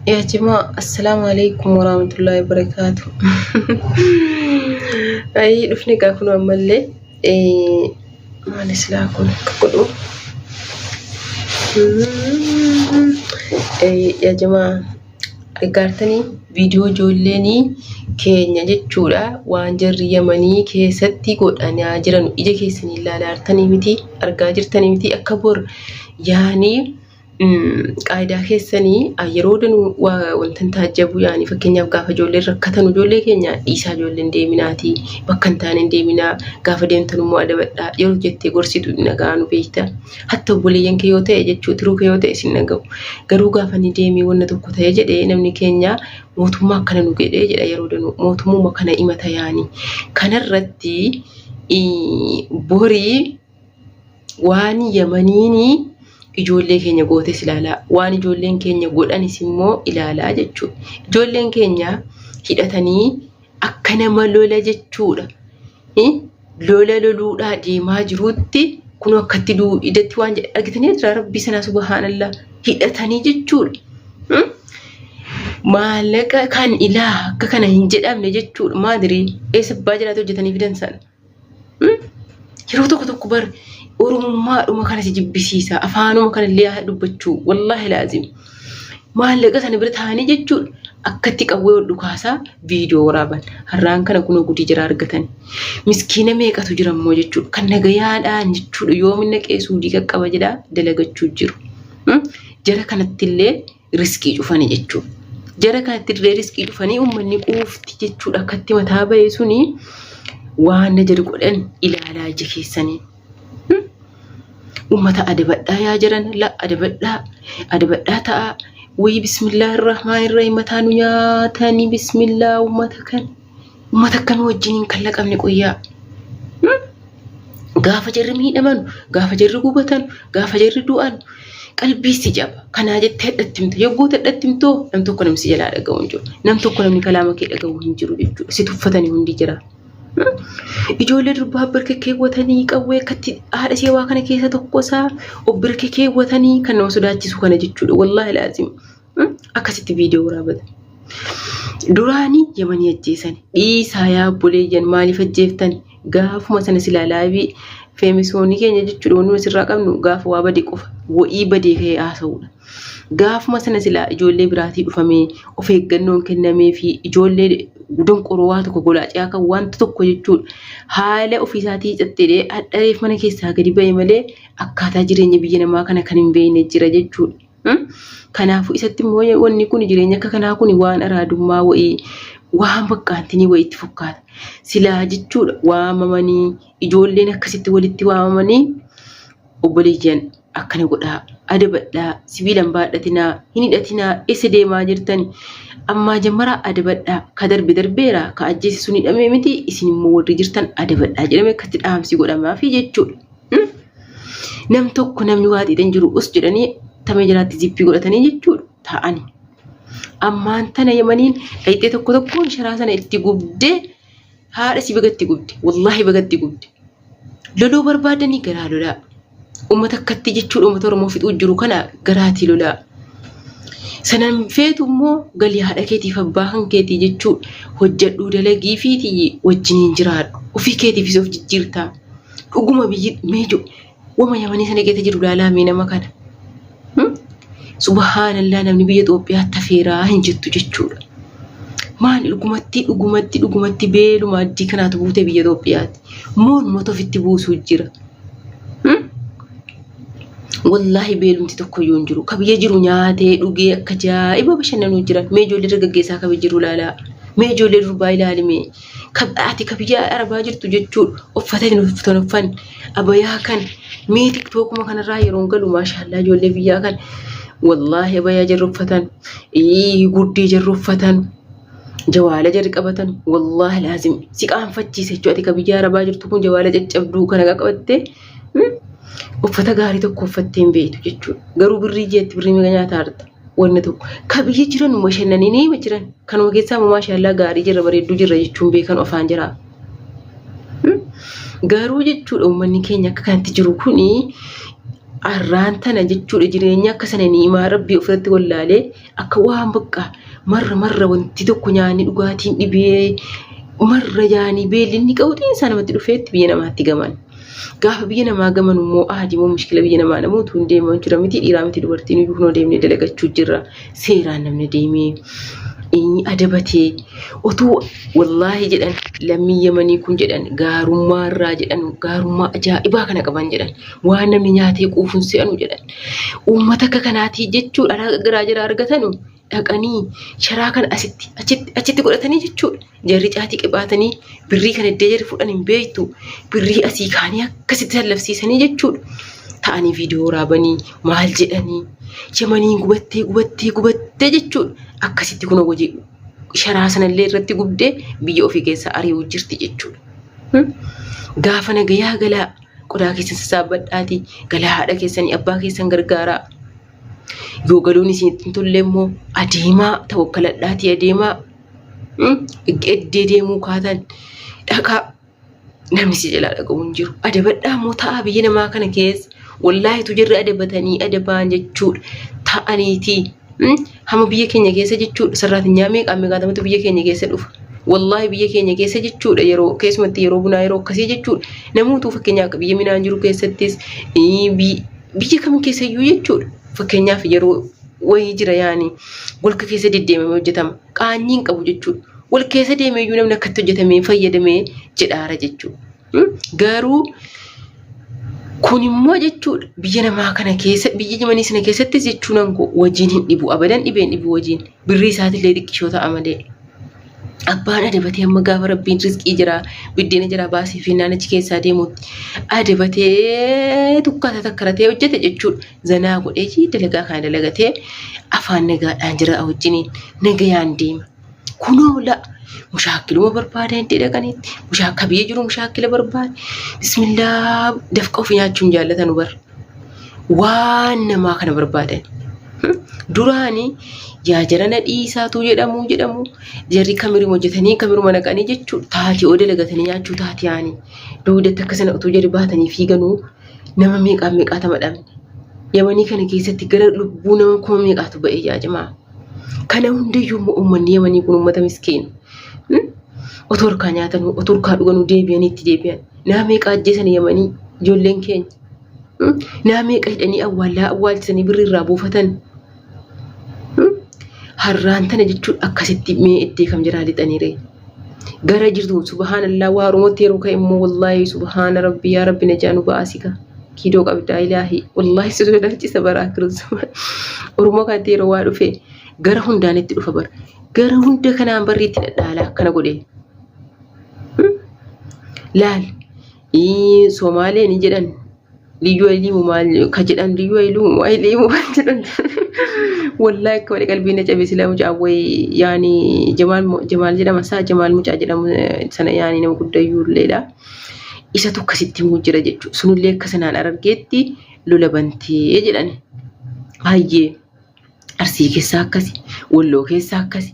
Yaa jimaa assalaamu alaikum warahmatullahi wabarakaatu. Ayii dhufne gaa kun ammallee maal islaa kun akka godhu. Yaa jimaa gargaartanii viidiyoo ijoolleenii keenya jechuudha waan jarri yamanii keessatti godhanaa jiran ija keessanii ilaalaa jirtanii miti argaa jirtanii miti akka bor yaanii. qaayidaa keessanii yeroo danuu wanta hin taajjabu yaani fakkeenyaaf gaafa ijoolleen rakkatan ijoollee keenya dhiisaa ijoollee hin deeminaatii bakka hin taane hin deeminaa gaafa deemtan immoo adabadhaa yeroo jettee gorsitu hin dhaga'anu beekta hatta obboleeyyan kee yoo ta'e jechuu tiruu kee yoo ta'e sin dhaga'u garuu gaafa ni deemii wanna tokko ta'e jedhee namni keenya mootummaa akkana nu jedhee jedha yeroo danuu mootummaa kana himata yaani kanarratti borii waan yamaniin ijoollee keenya gootes ilaalaa waan ijoolleen keenya godhanis immoo ilaalaa jechuudha. Ijoolleen keenya hidhatanii akka nama lola jechuudha. Lola loluudhaa deemaa jiruutti kun akkatti du'u idatti waan jedhe argitanii jira rabbii sanaa subhaanallaa hidhatanii jechuudha. Maallaqa kan ilaa akka kana hin jedhamne jechuudha maadirii eessa abbaa jiraatu hojjetanii fidan sana. Yeroo tokko tokko bar oromummaadhuma kana si jibbisiisa. Afaanuma kana illee haa dubbachuu. Wallaahi laazim. Maallaqa sana bira taa'anii jechuudha. Akkatti qawwee ol dhukaasaa viidiyoo waraaban. Har'aan kana kunoo gudii jira argatan. Miskiina meeqatu jira immoo jechuudha. Kan nagayaadhaan jechuudha. Yoomina qeesuu diiqa qaba jedhaa dalagachuu jiru. Jara kanatti illee riskii cufani jechuu jara kanatti dirree riskii cufanii uummanni quufti jechuudha akkatti mataa bahee suni waan na jari godhan ilaalaa ija keessanii ummata adabadhaa yaa jiran la adabadhaa adabadhaa ta'a wayii bismillaa irrahmaan irrahim mataa nu nyaatanii bismillaa ummata kan Uummata akkamii wajjiniin kan laqamne qoyyaa? Gaafa jarri miidhaman, gaafa jarri gubatan, gaafa jarri du'an qalbii si caba. Kanaa jettee hadhatti himta. Yogguu hadhatti himtoo nam tokko namni si jalaa dhaga'u hin jiru. Nam tokko namni kalaama kee dhaga'u hin jiru jechuudha. Si tuffatanii hundi jira. Ijoollee durbaa birka keewwatanii qawwee akkatti haadha ishee waa kana keessa tokkosaa of birka keewwatanii kan nama sodaachisu kana jechuudha. Wallaahi laazim. Akkasitti viidiyoo waraabata. Duraanii yamanii ajjeesan dhiisaa yaa obboleeyyan maaliif ajjeeftan gaafuma sana silaa laayivii feemisoonii keenya jechuudha wanuma sirraa qabnu gaafa waa bade qofa wa'ii badee ka'ee haasa'uudha. Gaafuma sana silaa ijoollee biraatii dhufamee of eeggannoon kennamee fi ijoollee donqoroo waa tokko golaacee akka wanta tokko jechuudha. Haala ofiisaatii cattedhee hadhareef mana keessaa gadi ba'e malee akkaataa jireenya biyya namaa kana kan hin beekne jira jechuudha. Kanaafuu isatti immoo wanni kun jireenya akka kanaa kun waan araadummaa wa'ii waan bakkaantinii wayiitti fakkaata. Silaa jechuudha waamamanii ijoolleen akkasitti walitti waamamanii obboleeyyan akkana godhaa adabadhaa sibiilan baadhatinaa hin hidhatinaa eessa deemaa jirtani ammaa jammaraa adabadhaa ka darbe darbeera ka ajjeese sun hidhamee miti isin immoo warri jirtan adabadhaa jedhamee akkatti dhaamsi godhamaafi jechuudha. Nam tokko namni waa xiixan jiru us jedhanii tamee jalaatti zippii godhatanii jechuudha taa'anii. Ammaan tana yamaniin dhayxee tokko tokkoon sharaa sana itti gubdee haadha si bagatti gubde wallaahi bagatti gubde. Loluu barbaadanii garaa lolaa. Uummata akkatti jechuudha uummata Oromoo fixuu jiru kana garaatii lolaa. Sanan feetu immoo galii haadha keetiif abbaa kan keetii jechuu hojjedhuu dalagii fi wajjiniin jiraadhu. Ofii keetiifis of jijjiirtaa. Dhuguma biyyi meeju wama yamanii sana keessa jiru ilaalaa mee nama kana. Hmm? Subhaanallaa namni biyya Itoophiyaa tafeeraa hin jettu jechuudha. Maal dhugumatti dhugumatti dhugumatti beeluma addii kanaatu buute biyya Itoophiyaati. Moon moota ofitti buusuu jira. Hmm? Wallaahi beelumti tokko iyyuu hin jiru. Ka biyya jiru nyaatee dhugee akka jaa'iba bashannanuu jira. Mee ijoollee dargaggeessaa ka biyya jiru ilaalaa. Mee ijoollee durbaa ilaali mee. ati ka biyya arabaa jirtu jechuu uffata hin uffatan uffan abayaa kan mee tiktookuma kanarraa yeroon galu maashaallaa ijoollee biyyaa kan wallaahi abayaa jarri uffatan ii, guddii jarri uffatan jawaala jarri qabatan wallaahi laazim si qaanfachiisa jechuu ati ka biyya arabaa jirtu kun jawaala caccabduu kana qaqqabattee hmm? uffata gaarii tokko uffattee hin beektu jechuudha garuu birrii jeetti birrii meeqa nyaata harta wanni tokko ka biyya jiran uma shannanii ni hima jiran kanuma keessaa immoo maashaallaa gaarii jirra bareedduu jirra jechuun beekan ofaan jira. Garuu jechuudha uummanni keenya akka kanatti jiru kuni arraan tana jechuudha jireenya akka sana ni himaa rabbii ofirratti wallaalee akka waan bakka marra marra wanti tokko nyaanni dhugaatiin dhibee marra yaanii beelli inni qabuutiin isaa namatti dhufeetti biyya namaatti gaman. Gaafa biyya namaa gamanu immoo ahadi immoo mushkila biyya namaa namuu utuu hin deeman jira miti dhiiraa miti dubartiin iyyuu kunoo deemnee dalagachuu jirra seeraan namni deemee inni adabatee utuu wallaahi jedhan lammii yamanii kun jedhan gaarummaa irraa jedhan gaarummaa ajaa'ibaa kana qaban jedhan waan namni nyaatee quufun se'anu jedhan uummata akka kanaatii jechuudha garaa jira argatanu dhaqanii sharaa kana asitti achitti achitti godhatanii jechuudha. Jarri caatii qibaatanii birrii kan iddee jarri fudhan hin beektu birrii asii kaanii akkasitti sallabsiisanii jechuudha. Ta'anii viidiyoo waraabanii maal jedhanii yamaniin gubattee gubattee gubattee jechuudha. Akkasitti kun hojii sharaa sanallee irratti gubdee biyya ofii keessaa ari'uu jirti jechuudha. Hmm? Gaafa nagayaa galaa qodaa keessan sassaabadhaatii galaa haadha keessanii abbaa keessan gargaaraa. Yoo galuun isinitti hin tolle immoo adeemaa tawakkaladhaatii adeemaa eddee deemuu kaatan dhaqaa namni si jalaa dhaqabu hin jiru. Adabadhaa immoo ta'a biyya namaa kana keessa wallaahi tu jirri adabatanii adabaan jechuudha ta'aniitii. Hama biyya keenya keessa jechuudha sarraatinyaa meeqaa meeqaatamatu biyya keenya keessa dhufa. Wallaahi biyya keenya keessa jechuudha yeroo keessumatti yeroo bunaa yeroo akkasii jechuudha namoota fakkeenyaa akka biyya minaan jiru keessattis Biyya kam keessa iyyuu jechuudha. Fakkeenyaaf yeroo wayii jira yaani golka keessa deddeemamee hojjetama. Qaanyii hin qabu jechuudha. Wal keessa deemee iyyuu namni akkatti hojjetamee fayyadamee jedhaara jechuudha. Hmm? Garuu kun immoo jechuudha biyya namaa kana keessa biyya jimanii sana keessattis jechuun angoo wajiin hin dhibu abadan dhibeen dhibu wajiin birrii isaatiillee xiqqishoo ta'a malee. Abbaan adabatee amma gaafa rabbiin rizqii jira biddeena jira baasii fi naannichi keessaa deemutti adabatee tukkaata takkaratee hojjete jechuudha. Zanaa godhee jii dalagaa kana dalagatee afaan nagaadhaan jira wajjiniin nagayaan deema. Kunoo la mushaakiluma barbaada hin dhaqanitti mushaakka biyya jiru mushaakila barbaada. Bismillaa dafqa ofii nyaachuun jaallatan bara. waan namaa kana barbaadan. Duraani yaa jarana dhiisaatu jedhamu jedhamu jarri kamiruma hojjetanii kamiruma naqanii jechuudha taatee oo dalagatanii nyaachuu taatee ani duudatti akka sana utuu jarri baatanii fiiganuu nama meeqaa meeqaata madhamne. Yamanii kana keessatti gara lubbuu nama kuma meeqaatu ba'ee jaajamaa. Kana hundayyuu immoo uummanni yamanii kun uummata miskiina. Otoo harkaa nyaatan otoo harkaa dhuganuu deebi'anii itti deebi'an. Nama meeqaa ajjeesan yamanii ijoolleen keenya. Nama meeqa hidhanii awwaallaa awwaalchisanii birri irraa buufatan. Harraan tana jechuun akkasitti mee iddee kam jiraa lixaniire. Gara jirtu subhaanallaa waa oromootti yeroo ka'e immoo wallaahi subhaana rabbi yaa rabbi najaa nu ba'aasika. Kiidoo qabdaa ilaahi wallaahi si sodaachisa baraa kiristuma. Oromoo kanatti yeroo waa dhufe gara hundaan itti dhufa bara. Gara hunda kanaan barri itti dhadhaala akkana godhe. Laal Ii Somaalee ni jedhan liyyuu ayiliimu maal ka jedhan liyyuu ayiliimu ayiliimu kan jedhan wallaahi akka malee qalbii na cabe silaa mucaa wayi yaani jamaal mo- jamaal jedhama isaa jamaal mucaa jedhamu eh, sana yaani nama guddayyuu illeedha isatu akkasitti himuu jira jechuudha sunillee akka sanaan argeetti lola bantee jedhani baay'ee Arsii keessaa akkasi, Walloo keessaa akkasi.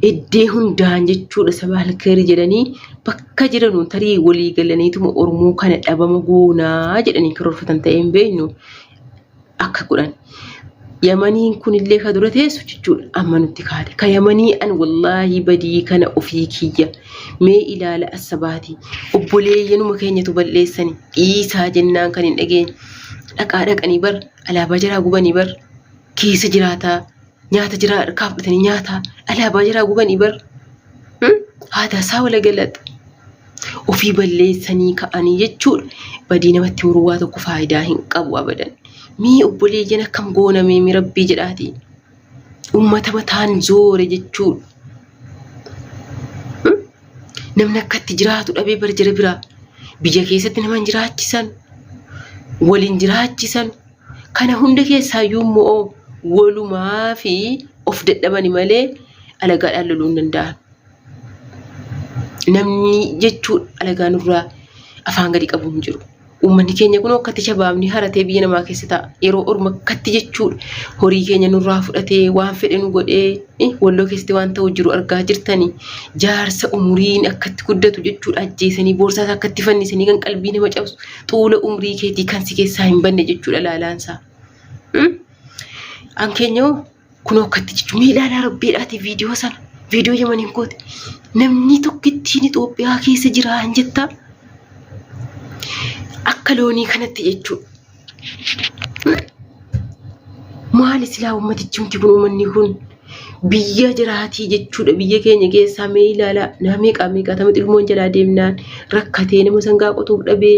Iddee hundaan jechuudha saba alkeerii jedhanii bakka jiranuu tarii walii galaniituma Oromoo kana dhabama goonaa jedhanii karoorfatan ta'ee hin beeknu akka godhan. Yamaniin kunillee ka dura teessu jechuudha amma nutti kaate. Ka yamanii an wallaahi badii kana ofii kiyya mee ilaala assabaati. Obboleeyyanuma keenyatu balleessani dhiisaa jennaan kan hin dhageenye. Dhaqaa dhaqanii bara Alaabaa jaraa gubanii bar keessa jiraataa nyaata jiraa harkaa fudhatanii nyaataa alaabaa jaraa gubanii bar hmm? haadaa isaa wala galaxa ofii balleessanii ka'anii jechuudha badii namatti muruu waa tokko faayidaa hin qabu abadan mii obboleeyyan akkam goonamee mi rabbii jedhaatii Uummata mataan zoore jechuudha. Namni akka itti jiraatu dhabee bara jira biraa. Biyya keessatti nama hin jiraachisan, waliin jiraachisan. Kana hunda keessaayyuu immoo walumaa fi of dadhabani malee alagaadhaan loluu hin danda'an. Namni jechuun alagaa nurraa afaan gadi qabu hin jiru. Uummanni keenya kun akkatti shabaabni haratee biyya namaa keessa ta'a. Yeroo orma akkatti jechuudha. Horii keenya nurraa fudhatee waan fedhe nu godhee eh, walloo keessatti waan ta'u jiru argaa jirtani. Jaarsa umuriin akkatti guddatu jechuudha ajjeesanii boorsaas akkatti fannisanii kan qalbii nama cabsu xuula umrii keetii kan si keessaa hin banne jechuudha laalaansaa. Hmm? An keenya hoo Kunoo akkatti jechuun mee ilaalaa rabbiidhaati viidiyoo sana viidiyoo yamaniin kooti namni tokkittiin Itoophiyaa keessa jira hin jettaa akka loonii kanatti jechuudha. Maal silaa uummatichi miti kun uummanni kun biyya jiraatii jechuudha biyya keenya keessaa mee ilaalaa nama meeqaa meeqaa tamatti ilmoon jalaa deemnaan rakkatee nama sangaa qotuuf dhabee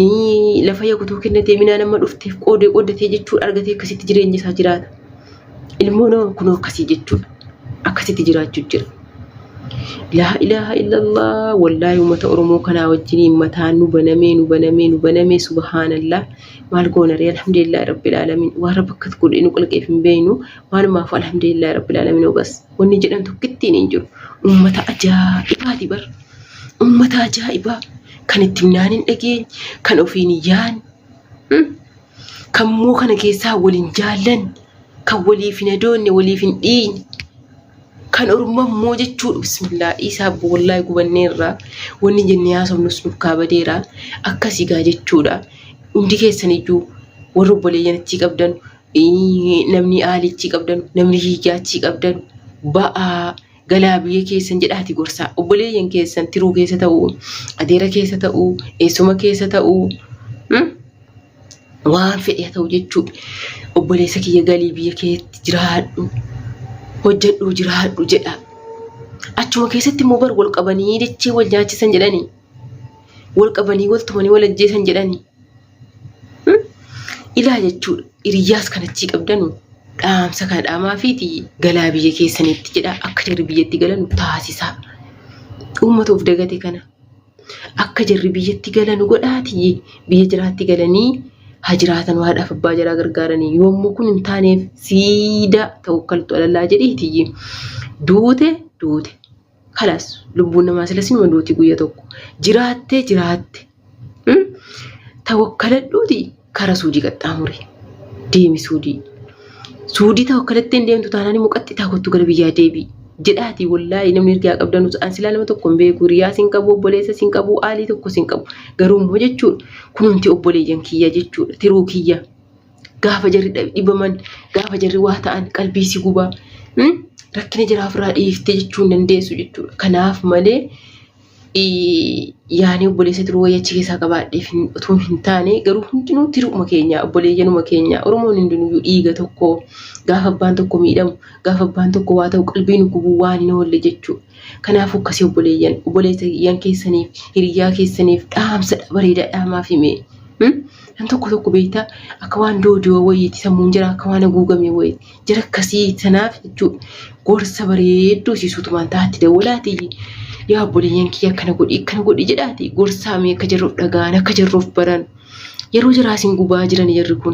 ii, lafa yakutuu kennatee minaa nama dhufteef qoodee qoodatee jechuudha argatee akkasitti jireenya isaa jiraata. ilmoo nama kunoo akkasii jechuudha akkasitti jiraachuu jira laa ilaaha illallah wallaahi ummata oromoo kanaa wajjiniin mataa nu banamee nu banamee nu banamee subhaanallah maal goonaree alhamdulillah rabbil alamin waan rabbi akkas godhee nu qalqeef hin beeynu maalumaaf alhamdulillah rabbil alamin obas wanni jedhan tokkittiin hin jiru ummata ajaa'ibaati bar ummata ajaa'ibaa kan ittiin naan hin dhageenye kan ofiin hin yaanne Kan moo kana keessaa wal hin jaallanne, kan waliif hin adoonne, waliif hin dhiiyne, kan orma moo jechuu bismillaa dhiisaa abbo wallaahi gubanneerra wanni jennee haasofnus nuuf kaabadeera akkasii gaa jechuudha. Hundi keessan iyyuu warri obboleeyyan achii qabdan namni aali achii qabdan namni hiyyaa achii qabdan ba'aa. galaa biyya keessan jedhaati gorsaa obboleeyyan keessan tiruu keessa ta'uu adeera keessa ta'uu eessuma keessa ta'uu hmm? waan fedhe haa ta'u jechuu obboleessa kiyya galii biyya keetti jiraadhu hojjedhu jiraadhu jedha achuma keessatti immoo bar wal qabanii dachee wal nyaachisan jedhanii wal qabanii wal tumanii wal ajjeesan jedhanii Ilaa jechuudha. Hiriyyaas kan achii qabdanu dhaamsa kana dhaamaa fi galaa biyya keessanitti jedha akka jarri biyyatti galanu taasisaa. Uummata of dagate kana akka jarri biyyatti galanu godhaati biyya jiraatti galanii haa jiraatan waadhaaf abbaa jaraa gargaaranii yommuu kun hin taaneef siidaa ta'u kaltu alallaa jedhiiti duute duute. Kalas lubbuun namaa sila sinuma duuti guyya tokko. Jiraattee jiraatte. Hmm? Tawakkaladhuuti kara suudii qaxxaamuri. Deemi suudii. Suudii tawakkalattee hin deemtu taanaan immoo qaxxitaa kottu gara biyyaa deebi'i. Jedhaati wallaahi namni ergaa qabdan an silaa nama tokko hin beeku riyaa sin qabu obboleessa sin qabu aalii tokko sin qabu garuu immoo jechuudha kunumti obboleeyyan kiyya jechuudha tiruu kiyya Gaafa jarri dhibaman, gaafa jarri waa ta'an qalbii si gubaa. Hmm? Rakkina jiraa ofirraa dhiiftee jechuu hin dandeessu jechuudha. Kanaaf malee ii, yaanii obboleessa tiruu wayii achi keessaa qabaadheef hin- utuu hin taane garuu hundinuu tiruuma keenya obboleeyyanuma keenya Oromoon hundinuyyuu dhiiga tokko gaafa abbaan tokko miidhamu gaafa abbaan tokko waa ta'u qalbii nu gubuu waan hin oolle jechuudha. Kanaaf akkasii obboleeyyan obboleeyyan keessaniif hiriyyaa keessaniif dhaamsa bareedaa dhaamaa fi mee. Hmm? Kan tokko tokko beektaa akka waan doodoo wayiiti sammuun jira akka waan haguugamee wayiiti. Jara akkasii sanaaf jechuudha. Gorsa bareedduu isii suutumaan taatti dawwalaati. Yaa obboleeyyan kiyya akkana godhi akkana godhi jedhaati. Gorsaamee akka jarri of dhaga'an akka jarri of baran. Yeroo jaraa isin gubaa jiran jarri kun.